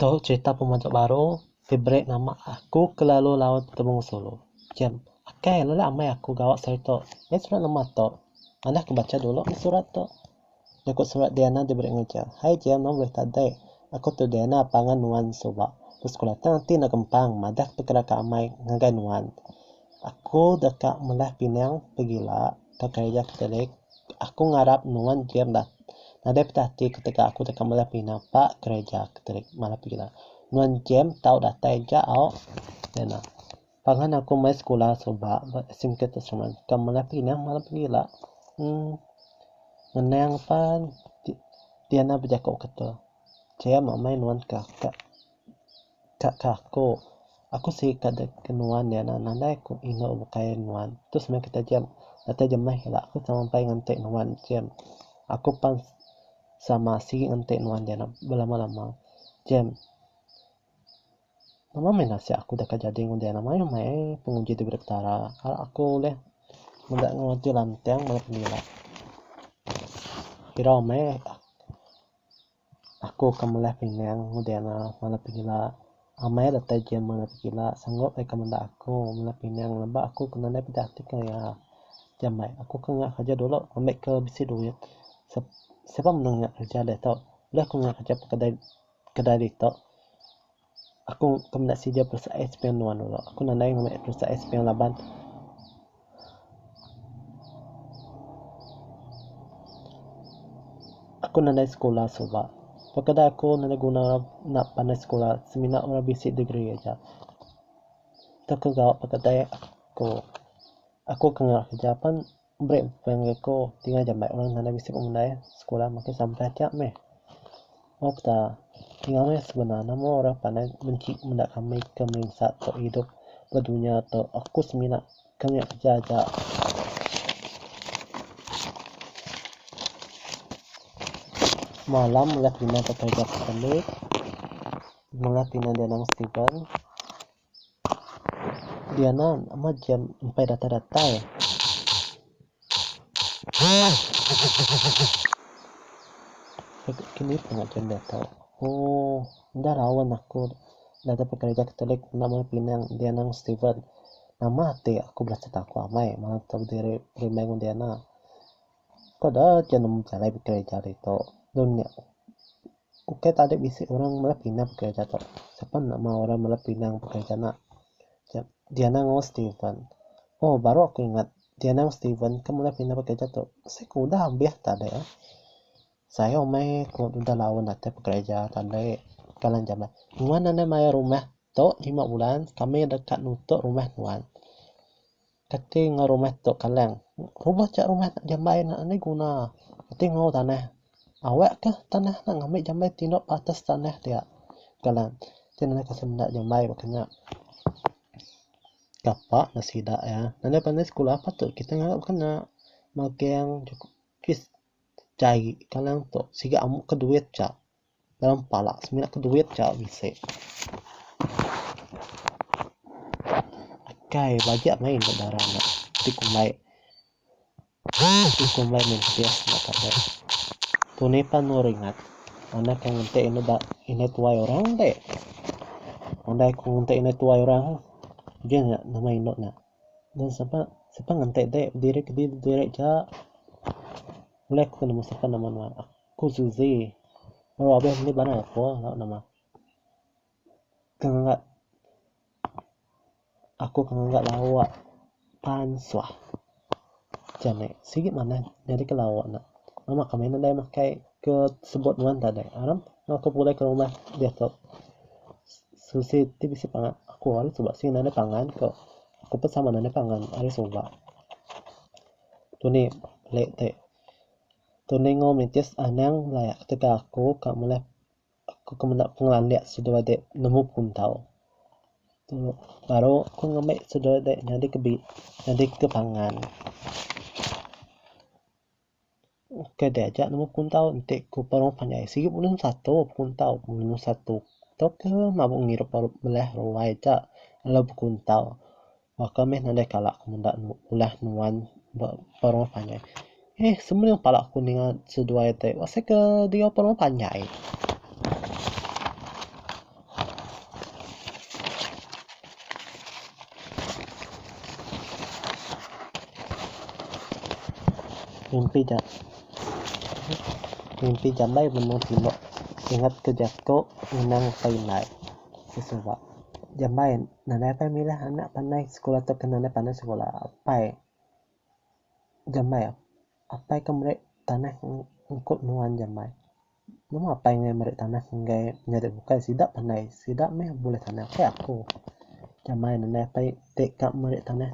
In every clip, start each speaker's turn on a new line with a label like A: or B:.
A: Tu cerita pemajuk baru ti beri nama Aku Kelalu Laut Betemu Sulu. Jam, Akai, lelak amai aku gawa seri tu. Nyadi surat nama tu. Anak ke bacha dulu surat tu. Jaku surat Diana diberi ngeja. Hai Jia nuan ulih tadai. Aku tu Diana pangan nuan suba. Ku sekula tang ati enda gempang madah ke pekara ke amai ngagai nuan. Aku deka melah pinang pegila ke kereja Katolik. Aku ngarap nuan jia meda nadai petah ati ketegal aku deka melah pinang ba kereja Katolik malah pegila. Nuan jia tau datai ja au. Diana. Pangan aku mai sekula suba ba singket tu seman ka melepa ina malam pengila ngenang pan diana bejaku ketul kiya amai nuan ka ka aku. Aku sik ka dep ke nuan diana nadai ku inu bukai nuan tu seman ke taja datai jemah ila aku sama ampai ngante nuan jam aku pan sama sik ngante nuan diana belama-lama jam Nama meh nasib aku deka jadi ngundi anak mayuh meh ai penguji daripada petara arak aku ulih meda ngeruti lantang bala penila. Irau meh aku ke meliah pinang ngundi anak bala penila. Amai datai ji meh bala penila sanggup deka meda aku meliah pinang leba aku ke nadai peda ati ke iya. Ti ambai aku ke ngena kerja dulu ambi ke bisi duit. Siapa mene ngena kerja deh tu. Udah ku ngena kerja pa kedai. Kedai ditu, aku ke meda sida peresa ais pinggan nuan dulu. Aku nadai ngambi peresa ais pinggan laban. Aku nadai sekula suba. Ba kedai aku nadai guna orang enda pandai sekula semina orang bisi degree aja. Tau ke gau ba kedai aku, aku ke ngarap kerja pan. Meri pekara ngagai ku ti ngajar meh orang tanda bisi pemandai sekula makin sampai aja meh. Moh peda enggau meh seguna nama orang pandai benci meda kami ke merinsa tu idup ba dunya tu aku semina ke meh keja aja. Semalam udah pina ke kerja ke Kellit. Mengah pina di anang Steven. Diana amat jam empai datai datai. Kini pun aja enda tau. Ooh enda raun aku enda dapat kereja katolik enda meh pinang Diana ngan Steven. Nama ati aku belajar aku amai manah tau diri berimbai ngan Diana. Peda je nemu jalai bekereja ditu. Lebuh nya ukai tadi bisi orang meh meda pinang bekereja tu. Sapa enda mahu orang meda pinang bekereja enda. Diana enggau Steven. Oh baru aku ingat Diana enggau Steven ke meda pinang bekereja tu sik udah ambih tadi. Sayau meh ku udah laun datai bekereja tadi. Ka nan jamai. Nuan anang mayar rumah tu lima bulan kami deka nutuk rumah nuan. Kati enggau rumah tu kaleng. Rumah tu rumah anak jambai enda agi guna. Kati enggau tanah. Awak kah tanah nya ngambi jambai tindup atas tanah dia. Kaleng. Ti ngagai aku senda jambai baka nya. Kapa ne sida iya. Anih panai sekula patut kitai ngaga baka nya. Magang jugis jai kaleng tu siga amu ka duit ja. Dalam pala semina ke duit cha bisi. Akai bajak mei enda dara nya ti kumbai ti kumbai meh bias nya tade. Tu ni pan meh ringat anak ke ngunte indu ba indu tuai orang deh. Andai ku ngunte indu tuai orang je nya nama indu nya. Nya sapa sapa ngante deh diri ke diri cha. Ulih ku nemu sapa nama nuan. Ku Suzy, Baru abis meli banan aku lalu nama. Ke ngangkat aku ke ngangkat lawa pan suah. Jani, sigi manah nyadi ke lawa nya. Nama kami nadai makai ke sebut nuan tadi. Aram tau aku pulih ke rumah diatu. Suzy ti bisi pangan aku ari suba sigi nadai pangan ku. Aku pun sama nadai pangan ari suba. Tu ni lek ti. Tu ningo mintis anang laya ketegal aku ka mula aku ke menda pengelandik seduai dek nemu puntau. Tu baru aku ngembi seduai dek nyadi ke bi nyadi ke pangan. Ukai dek aja nemu puntau enti ku penuh panjai siyu ulun satu puntau ulun satu tau ke mabu ngirup bala ruai aja lalu bekuntau. Baka meh nadai kala aku meda ulah nuan ba peruh panjai. Heh semening pala aku ninga seduai te asai ke diau peruh panjai. Mimpi ja mimpi jambai benung tino ingat ke jaku ngenang apai indai ke suba. Jambai. Nadai apai milah anak pandai sekula tauka nadai pandai sekula. Apai jamai apai ke meri tanah ungkup nuan jamai. Nemu apai enggai meri tanah enggai nyadi bukai sida pandai sida meh bulih tanah kai aku. Jamai nadai apai ti ka meri tanah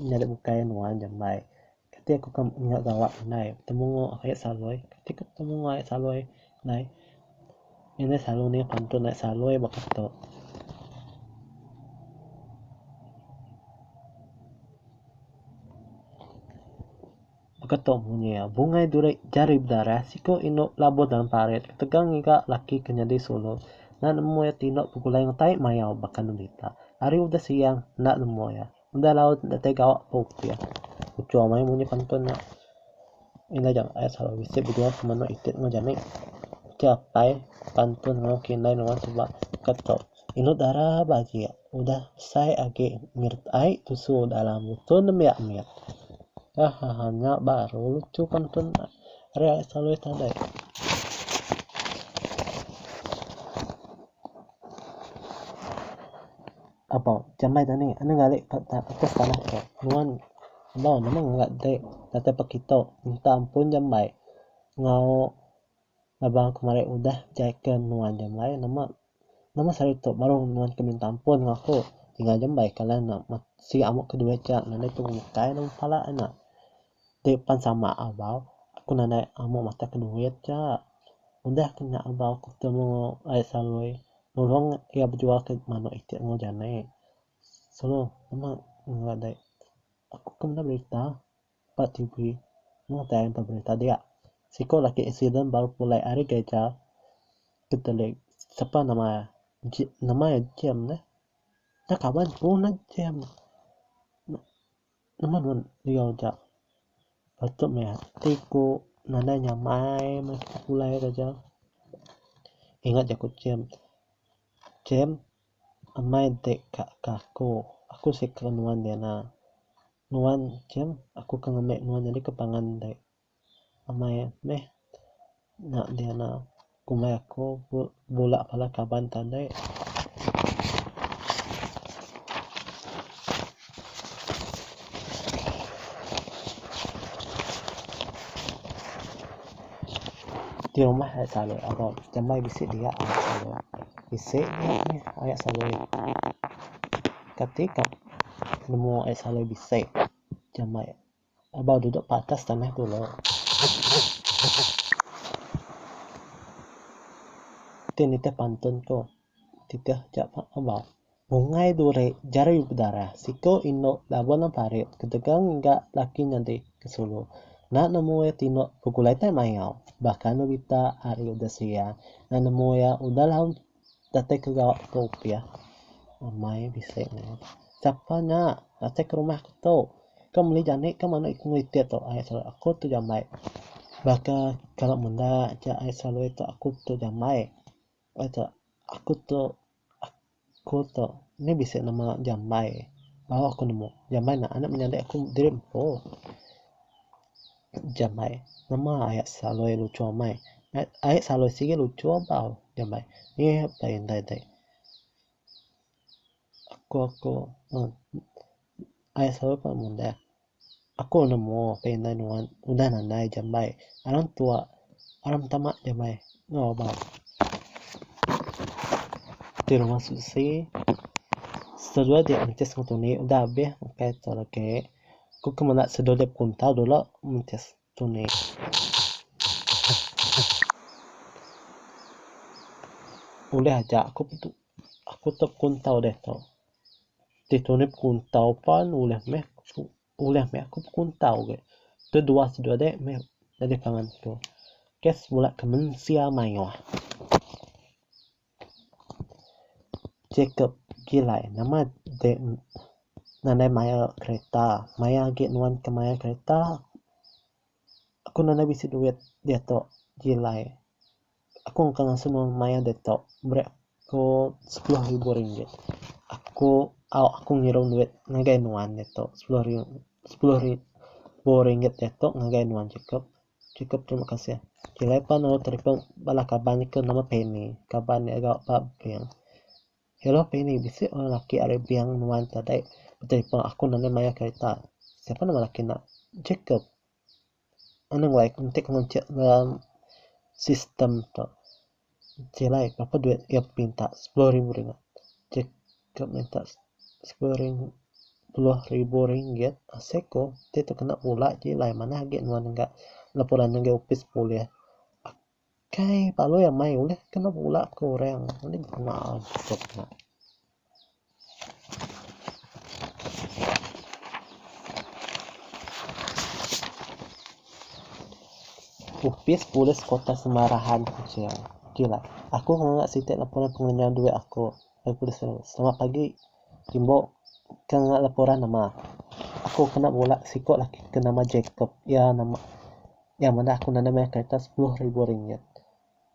A: nyadi bukai nuan jamai. Kati aku ke mengena gawa nai betemu enggau ayat saloi. Kati ke betemu enggau ayat saloi nai. Nya neh selalu nih pantun ayat saloi ba ke tu. Ba ke tu munyi iya. Bungai duri jari bedarah, siku indu labuh dalam parit, ketegal ngiga laki ke nyadi sulu. Enda nemu iya ti indu begulai enggau tai mayau baka nembitak. Ari udah siang enda nemu iya. Udah laut enda tai gawa pun ku iya. Uchung maya munyi pantun nya. Ila jam ai salau bisi bedua ke menu itit enggau jani. Ti apai pantun enggau kinai nuan suba ka tok. Ilut dara ba agi udah besai agi ngirit ai tusu dalam muto nembiak mit. Hahaha nya baru lucu pantun ari ai salau ita deh. Apo, jambai tu nih, enda ngali ka atas tanah tu. Nuan enggau nama ngega dek datai pa kitu minta ampun jambai enggau baba ku marik udah jai ke nuan jambai nama nama sari tu baru nuan ke minta ampun enggau aku tinggal jambai ka lah enda siga amu ke duai ka nadai tu bukai dalam pala ena. Ti pan sama abau aku nadai amu matak ke duit cha. Udah ke nya abau ku temu ai Sarui nulung iya bejual ke manuk iti enggau jani. Sulu nemu enggau dei aku ke meda berita ba TV mung tai empa berita dia. Siko lagi accident baru pulai ari gereja ke teli sapa nama nama iya Jem nya kaban ku ne Jem. Nama nuan liau ja. Patut meh ati ku nadai nya mai meh pulai da ja. Ingat ja ku chem. Chem amai dek ka ka aku. Aku sik ke nuan nyana. Nuan chem aku ke ngambek nuan nyadi ke pangan dek. Amai meh nya diana kumbai aku bula bala kaban tandai. Ti rumah nya selalu aba jambai bisi dia bisi nya selalu kati ka nemu ai selalu bisi jambai. Abang duduk patas tanah tu lok. Ti nitih pantun ko titih ja abang. Bungai duri jari yu bedarah siko inu laban nang parit ketegal ngiga laki nyadi ke sulu nak nemu iya tino begulai tai mayau baka novita ari udah seia nak nemu iya udah lalu datai ke gawa ku opia amai bisi ne sapa nya datai ke rumah ku tu ke meli jani ke mene iku itit tu ai saja aku tu jambai baka kala menda aja ai selalu tu aku tu jambai ai tu aku tu aku tu nya bisi nama jambai baru aku nemu jambai naan nya menyadi aku diri empu. Jambai, Nama ae saloi lucu amai? Ae saloi sigi lucu abau. Jambai, Ye apai indai dei. Aku aku uhh ae saloi pun mudai. Aku nemu apai indai nuan udah nadai jambai. Orang tua orang betama jambai enggau abau. Ti rumah susi, Seduai ti entis ngetu ni udah abih makai tu agi. Ku ke menda sedulip ku entau dulu menti sunyi. Ulih aja aku pun aku tau ku entau deh tu. Ti tunip ku entau pan ulih meh ulih meh aku ku entau ge. Tu dua sedulik meh jadi pangan ku. Kes bula ke mensia mayuh. Jacob, Gilai, nama deh nadai mayar kereta. Maya agi nuan ke mayar kereta, aku nadai bisi duit diatu. Gilai, Aku engka ngasuh nuan mayar diatu. Beri aku sepuluh ribu ringgit. Aku au aku ngirum duit ngagai nuan diatu. Sepuluh ribu ringgit diatu ngagai nuan Jacob. Cukup terima kasih. Telephone lalu telefon bala kaban nya ke nama Penny. Kaban nya ga ba bank. Hello Penny, bisi orang lelaki ari bank nuan tadi betelefon aku nan deh mayar kereta. Siapa nama lelaki nya? Jacob. Anang wei, enti ku ngancak dalam sistem tu. Silai ngapa duit ke minta sepuluh ribu ringgit. Ke ke minta sepuluh ring puluh ribu ringgit asai ko ti tu kena pula ji lai manah agi nuan ga laporan ngagai opis polis. Akai palui amai ulih kena pula ke orang. Uni pengawa tok nya. Opis Polis Kota Semarahan Kuching. Ok lah. Aku nganga siti laporan pengerenyau duit aku. Selamat pagi. Timbo, ke nganga laporan nama? Aku kena bala siko laki ke nama Jacob. Iya nama, iya meda aku nanda mayar kereta sepuluh ribu ringgit.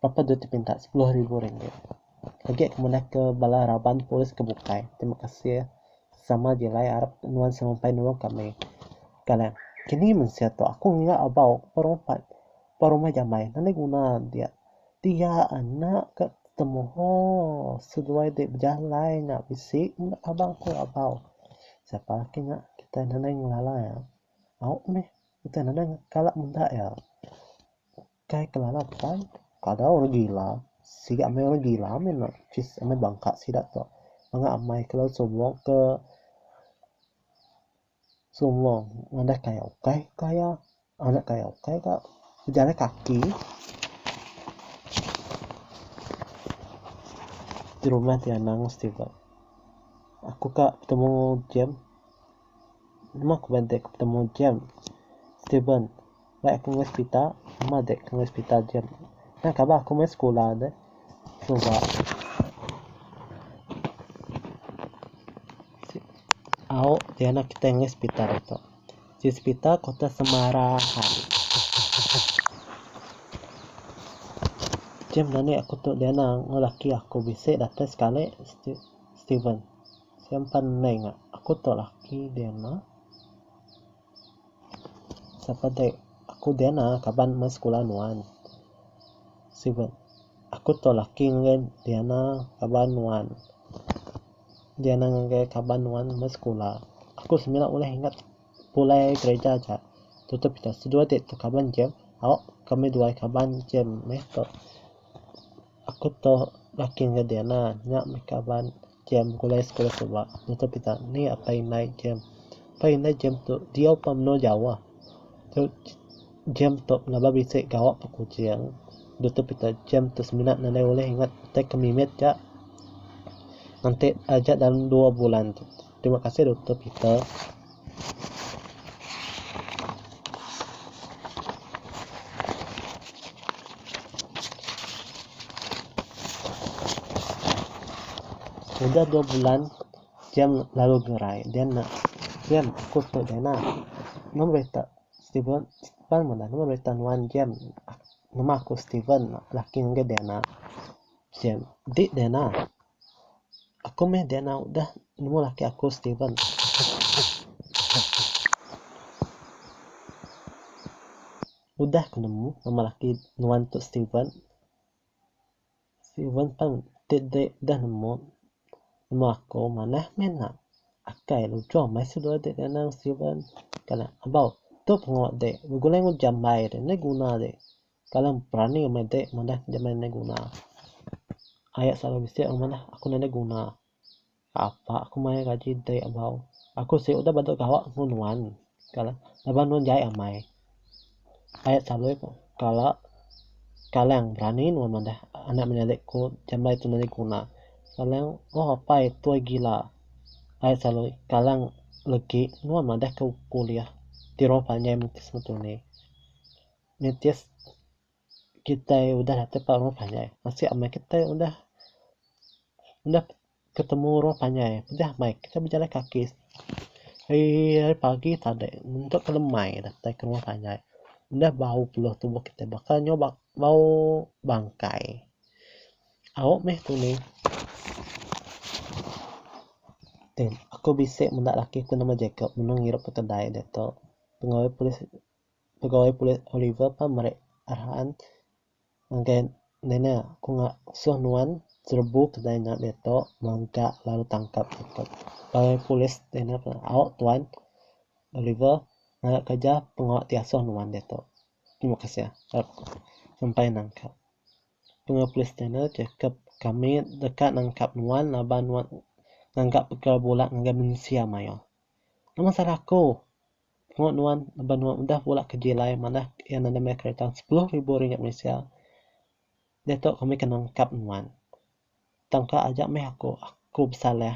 A: Bapa dua ti pinta sepuluh ribu ringgit. Agi aku manah ke bala raban polis ke bukai. Terima kasih sama jilai arap nuan semampai nulung kami. Galan. Kini mensia tu aku ngiga abau ba rompat ba rumah jamai nan agi guna dia. Dia anak ka temu hoo seduai deh bejalai nya bisi enda abang aku abau. Siapa laki nya kitai nadai ngelala iya. Au meh kitai nadai kala menda iya. Kai kelala pai kada orang gila sida meh orang gila meh enda pis meh bangka sida tu mega amai ke laut sumong ke sumong ngadah kaya ukai kaya anak kaya ukai ka bejalai kaki ti rumah ti anang mesti ba aku ka betemu Jem meh ku bede ku betemu Jem Steven. Baik aku meh sepita meh dek aku meh sepita jem nya kaban aku meh sekula deh suba au ti anak kitai meh sepita ditu ji sepita kota semara hai jem mani aku tu diana enggau laki aku bisi datai sekali steven sien pan mei ngak aku tu laki diana. Sapa deh aku Diana kaban meh sekula nuan. Sibet aku to laki ngagai Diana kaban nuan. Diana ngagai kaban nuan meh sekula. Aku semina ulih ingat pulai gereja aja tutup ita seduai ti to kaban jem au kami duai kaban jem meh to. Aku to laki ngagai Diana nya meh kaban. Jem begulai sekula tu ba nutup ita ni apai indai jem. Apai indai jem tu diau pa menua jauh. Tu jem tu pelaba bisi gawa pa kuching nutup ita jem tu semina ne nadai ulih ingat utai ke mimit ja enti aja dalam dua bulan tu. Terima kasih nutup ita. Udah dua bulan kiang lalu gerai dia enda kiang aku tu dia enda mung berita Steven pan menda mung berita nuan kiang nama aku Steven laki enggai dia enda kiang dik dia enda. Aku meh Diana udah nemu laki aku Steven. Udah ku nemu nama laki nuan tu Steven. Steven pan ti deh deh nemu nemu aku manah meh ena akai lujur meh su dua deh Diana ngan Steven. Kan abau tu pengawa deh begulai ngujam mbai deh enda guna deh. Kalam perani ke meda madah ke deka nadai guna. Ayat selalu bisi orang madah aku nadai guna. Apa aku mayar gaji dei abau. Aku siti udah badu gawa engu nuan. Kala laban nuan jai amai. Ayat selalu ko kala kalang berani nuan madah anak menyadi ko jambai tu nadai guna. Kalang oh apai tuai gila. Ayat selalu kalang legi nuan madah ko kuliah ti roh panjai menti sema tuni. Nitih kitai udah datai ba orang panjai asai amai kitai udah udah ketemu orang panjai pejah mai kitai bejalai kaki ari ari pagi tadek entok ke lemai datai ke rumah panjai udah bau peluh tubuh kitai baka nyau bau bangkai au meh tu ni aku bisi menda laki ku nama Jacob mene ngirup ke kedai diatu pegawai polis. pegawai polis Oliver pan meri arahan ngagai Nene, Aku ngasuh nuan serebu kedai nya diatu mega lalu tangkap aku. Pegawai polis Nene pan, Au tuan Oliver ngaga kereja pengawa ti asuh nuan diatu. Terima kasih tau ku sampai nangkap. Pegawai polis Nene cakap, Kami deka nangkap nuan laban nuan ngaga perkara bula ngagai mensia mayuh. Nama salah aku? Tengok nuan laban nuan udah bula ke jilai manah iya nadai maya kereta sepuluh ribu ringgit Malaysia diatu kami kena ngkap nuan tang ka aja meh aku aku besalah.